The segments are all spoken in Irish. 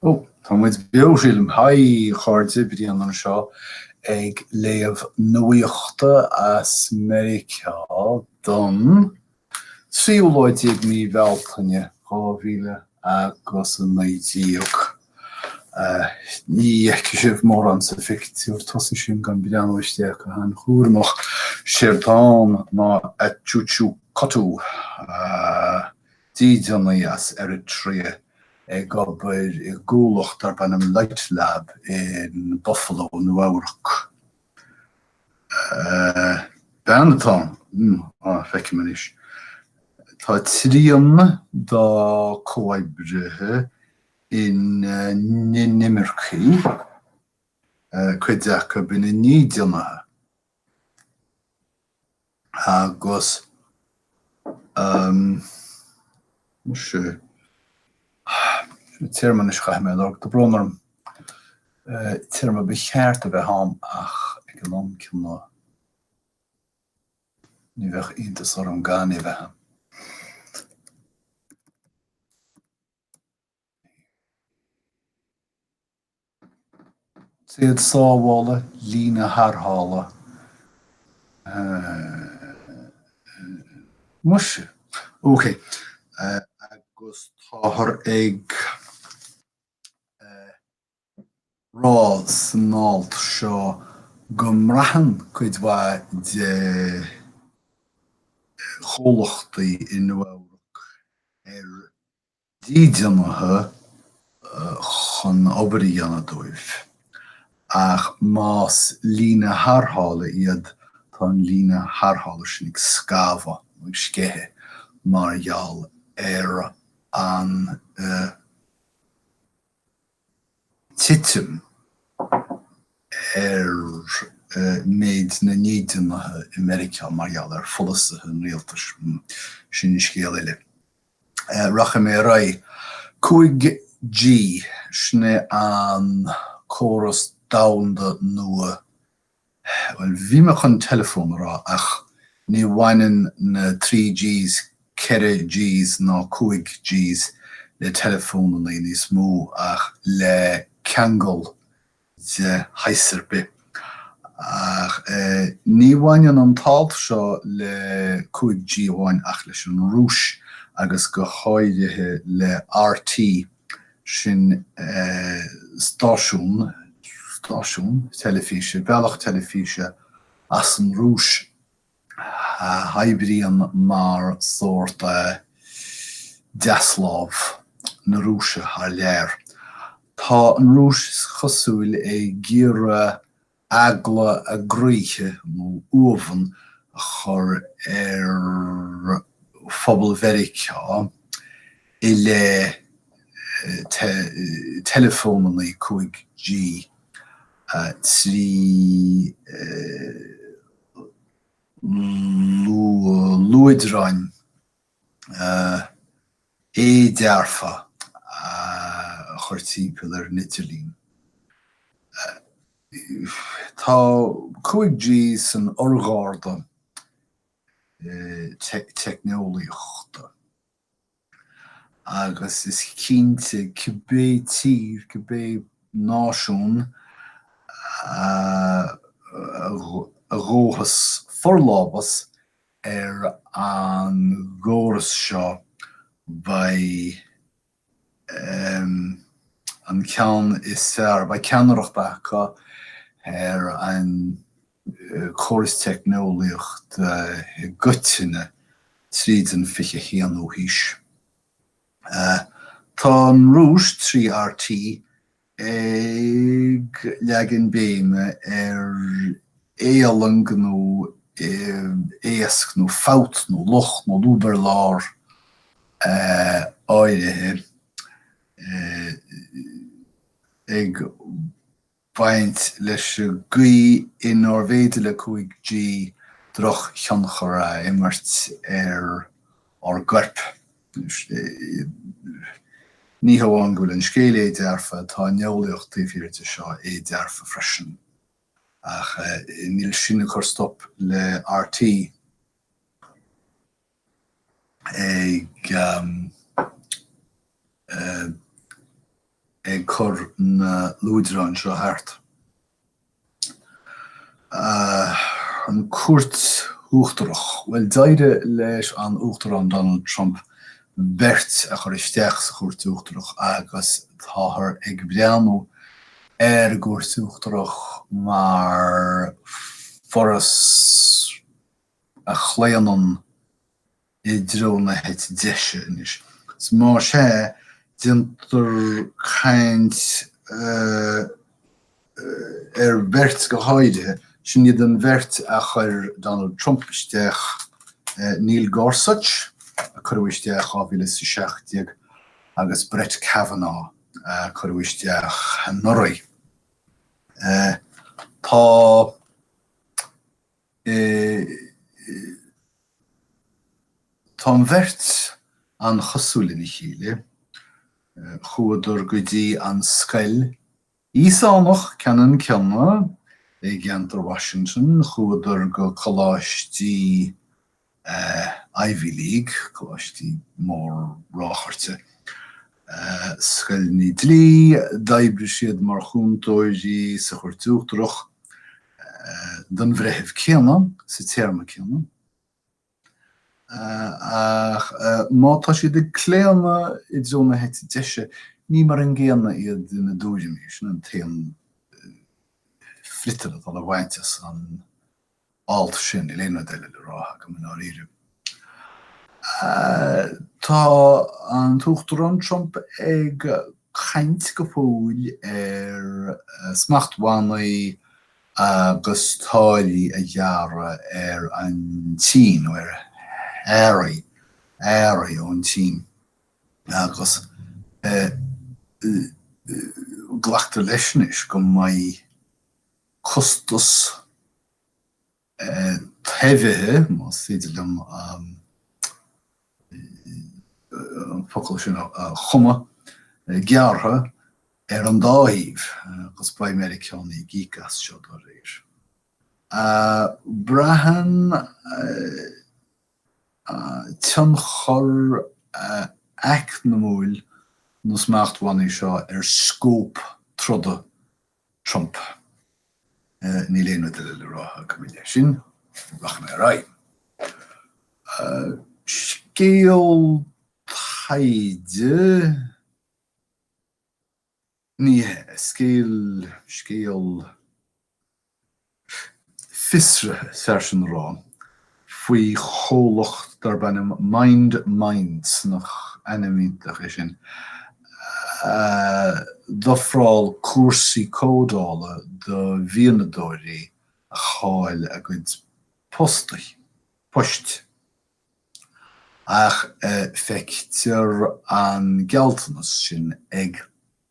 Ó, tá muid beo, sílim. Haigh, a chairde, Brian anseo ag léamh nuaíochta as Meiriceá don tríú lá déag mí Bhealtaine, dhá mhíle agus a naoi déag. Ní fheicfidh sibh mórán sa phictiúr tosaigh sin gan breathnú isteach go han-chúramach, séard atá ann ná a Choo Choo Cotoo! dídeanaí as Eritrea ag obair i gcomhlacht darb ainm Litelab in Buffalo, Nua-Eabhrac. Bean atá ann, á, feicim anois. Tá trian dá comhoibrithe ina n-inimircigh, cuid acu ina ndídeanaithe. agus, um, seo téarma anois a chaithfidh mé a lorg, tá brón orm, téarma ba cheart a bheith ann ach ag an am céanna ní bheadh iontas orm gan é a bheith ann. téad sábhála, líne tharrthála. Muise. Ok. Agus táthar ag. rá san alt seo go mbraitheann cuid mhaith de chomhlachtaí i Nua-Eabhrac ar dhídeanaithe chun obair a dhéanamh dóibh, ach más líne tharrthála iad, tá an líne tharrthála sin ag scamhadh nó ag sceitheadh mar gheall ar an titim ar méid na ndídeanaithe i Meiriceá mar gheall ar pholasaithe an rialtais, sin scéal eile. Rachaidh mé ar aghaidh. 5G, sin é an córas domhanda nua Bhuel, bhí mé chun teileafón a rá ach ní bhaineann na trí Gs, ceithre Gs ná cúig Gs le teileafónannaí níos mó ach le ceangal de shaghas ar bith. Ach ní bhaineann an t-alt seo le cúig G amháin ach leis an Rúis agus go háirithe le RT sin stáisiún, stáisiún teilifíse, bealach teilifíse as an Rúis a oibríonn mar sórt deaslámh na Rúise thar lear. Tá an Rúis, is cosúil, ag iarraidh eagla a gcroíthe nó uamhan a chur ar phobal Mheiriceá i leith teileafónanna 5G trí luaidreáin. éidearfa a chur timpeall ar an idirlíon. Tá 5G san urgharda teicneolaíochta agus is cinnte cibé tír, cibé náisiún a ghabhfas forlámhas Ar an gcóras seo, beidh an ceann is fearr, beidh ceannaireacht acu ar an gcóras teicneolaíochta i gcoitinne tríd an 21ú haois. Tá an Rúis, trí RT, ag leagan béime ar éalang nó éasc nó fabht nó locht nó lúb ar lár áirithe, ag baint leis an gcaoi inarbh fhéidir le 5G drochthionchar a imirt ar ár gcoirp. Ní hamháin go bhfuil an scéal éidearfa, tá an eolaíocht taobh thiar de seo éidearfa freisin. Ach níl sin ag cur stop le RT ag cur na luaidreáin seo thart. An Chúirt Uachtarach. Bhuel, d'éirigh leis an Uachtarán Donald Trump beirt a chur isteach sa Chúirt Uachtarach agus táthar ag breathnú ar an gCúirt Uachtarach mar foras a chlaonann, i dtreo na heite deise anois. Más ea, déantar caint ar bheirt go háirithe, sin iad an bheirt a chuir Donald Trump isteach, Neil Gorsuch, a cuireadh isteach in 2017, agus Brett Kavanaugh, a cuireadh isteach anuraidh. Tá. Tá an bheirt an-chosúil lena chéile. Chuadar go dtí an scoil Íosánach ceannann céanna i gceantar Washington, chuadar go coláistí Ivy League, coláistí mór-ráchairte, scoileanna dlí, d'oibrigh siad mar chúntóirí sa Chúirt Uachtarach don bhreitheamh céanna sa téarma céanna, ach má tá siad ag claonadh i dtreo na heite deise, ní mar an gcéanna iad ina dtuairimí, sin an t-aon fhriotal atá le bhaint as an. alt sin, níl aon rud eile le rá agam, i ndáiríre. Tá an tUachtarán Trump ag caint go fóill ar smachtbhannaí agus táillí a ghearradh ar an tSín, nó ar earraí, earraí ón tSín, agus glactar leis anois go mbeidh, costas taibhithe, más féidir liom an focal sin a chumadh, gearrtha ar an dá thaobh, agus beidh Meiriceánaí ag íoc as seo dá réir. Braitheann tionchar eacnamúil na smachtbhannaí seo ar scóp troda Trump. Níl aon rud eile le rá agam i leith sin. Rachaidh mé ar aghaidh. Scéal taighde? Ní hea, scéal, scéal. fiosraithe is fearr sin a rá faoi chomhlacht darb ainm Mined Minds, nach ainm iontach é sin? a d'ofráil cúrsaí códála do mhianadóirí a chaill a gcuid poist. Ach feictear an gealltanas sin ag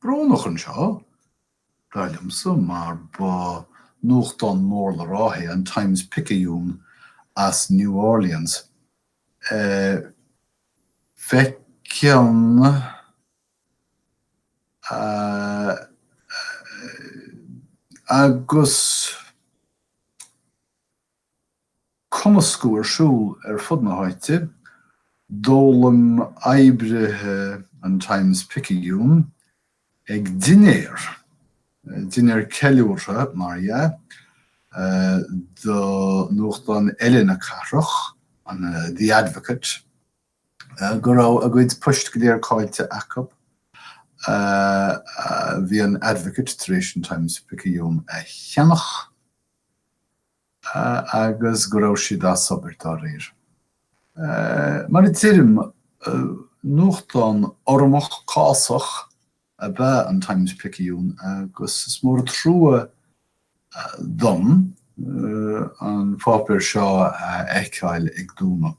brónach an seo, dar liomsa, mar ba nuachtán mór le rá é an Times-Picayune as New Orleans. Feiceann agus. cumascadh ar siúl ar fud na háite, d'fhoghlaim oibrithe an Times Picayune ag dinnéar, dinnéar ceiliúrtha mar dhea, do nuachtán eile na cathrach, an The Advocate, go raibh a gcuid poist go léir caillte acu. Bhí an Advocate tar éis an Times Picayune a cheannach. agus go raibh siad as obair dá réir. Mar a deirim, nuachtán urramach cásach ab ea an Times-Picayune agus is mór an trua dom an páipéar seo a fheiceáil ag dúnadh.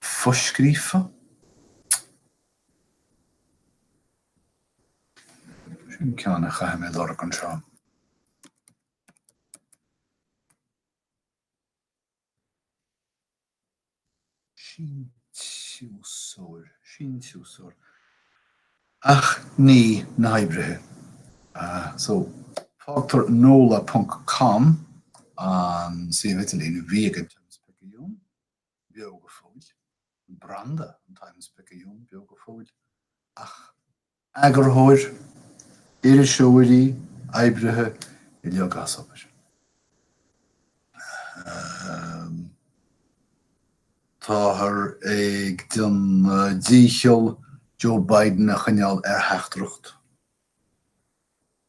foscríofa, Sin ceann a chaithfidh mé lorg anseo. síntiúsóirí, ach ní na hoibrithe. So, fágtar nola ponc com, an suíomh idirlín a bhí ag an Times-Picayune. beo go fóill, an branda an Times-Picayune beo go fóill, ach eagarthóir, iriseoirí, oibrithe uilig as obair. Ahem. Táthar ag déanamh díchill Joe Biden a choinneáil ar theachtaireacht.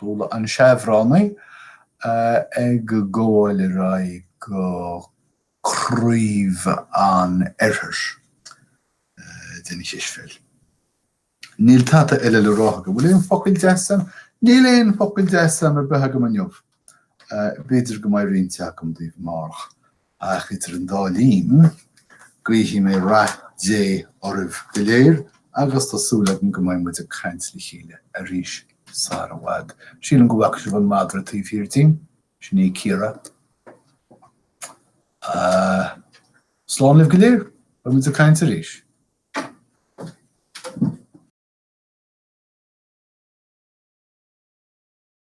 Bualadh na seabhránaithe ag gabháil ar aghaidh go craobh an oirthir den chispheil. Níl tada eile le rá agam. Bhfuil aon focal deas agam? Níl aon focal deas ar bith agam inniu. B'fhéidir go mbeidh roinnt agam daoibh amárach. Ach idir an dá linn, guífidh mé rath Dé oraibh go léir agus tá súil agam go mbeidh muid ag caint le chéile arís sara i bhfad. Síleann go bhfaca sibh an madra taobh thiar díom? Sin í Ciara. Slán libh go léir, beidh muid ag caint arís.